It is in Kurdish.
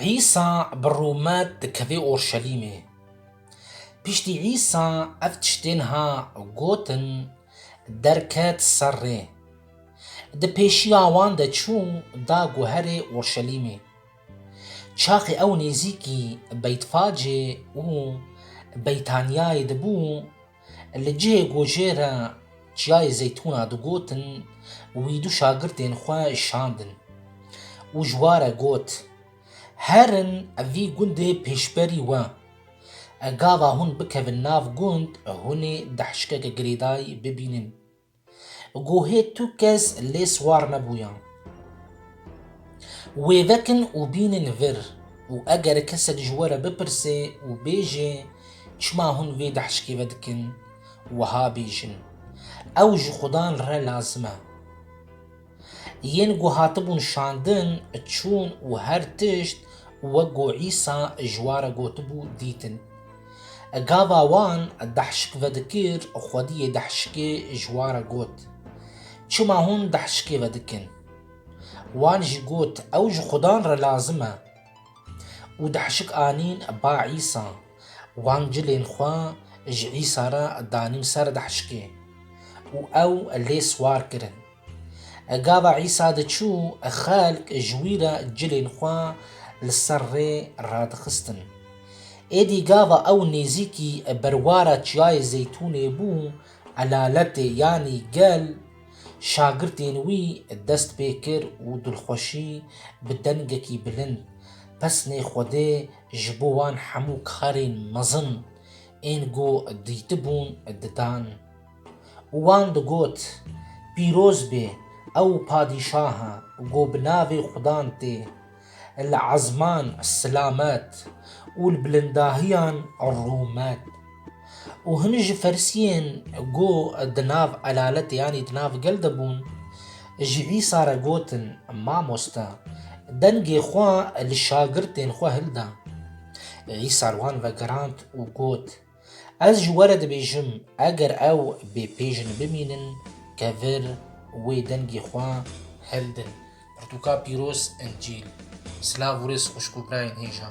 Îsa bi rûmet dikeve Orşelîmê. Piştî Îsa ev tiştên ha gotin, derket ser rê. Di pêşiya wan de çû da guherê Orşelîmê. Çaxê ew nêzîkî Beytfacê û Beytaniyayê dibû, Li cihê gojê re Çiyayê Zeytûna digotin wî du şagirtên xwe şandin û ji ware got, Herin vî gundê pêşberî we. Gava hûn bikevin nav gund, hûnê dehşikeke girêdayî bibînin. Guhê tu kes lê siwar nebûyan. Wê vekin û bînin vir û eger kesek ji we re bipirse û bêje çima hûn vê dehşkê ve dikin, wiha bêjin, Ew ji xudan re lazim e. Yên ku hatibûn şandin, çûn û her tişt wek ku Îsa ji wan re gotibû dîtin. Gava wan dehşik vedikir, xwediyê dehşikê ji wan re got, Çima hûn dehşikê vedikin? Wan jî got, Ew ji xudan re lazim e. Û dehşik anîn ba Îsa. Wan cilên xwe ji Îsa re danîn ser dehşikê û ew lê siwar kirin. Gava Îsa diçû, xelk ji wî re cilên xwe li ser rê radixistin. Êdî gava ew nêzîkî berwara Çiyayê Zeytûnê bû, elaletê yanî gel, şagirtên wî dest pê kir û dilxweşî bi dengekî bilind pesnê Xwedê ji bo wan hemû karên mezin ên ku dîtibûn didan. Û wan digot, Pîroz bê ew padîşaha ku bi navê xudan tê, li ezman silamet û li bilindahiyan rûmet. Û hin ji ferisiyên ku di nav elaletê yanî di nav gel de bûn, ji Îsa re gotin, Mamoste, dengê xwe li şagirtên xwe hilda. Îsa li wan vegerand û got, Ez ji we re dibêjim, eger ew bê pê jin bimînin, kevir wê dengê xwe hildin. Pirtûka pîroz Încîl. Silav û rêz xwişk û birayên hêja.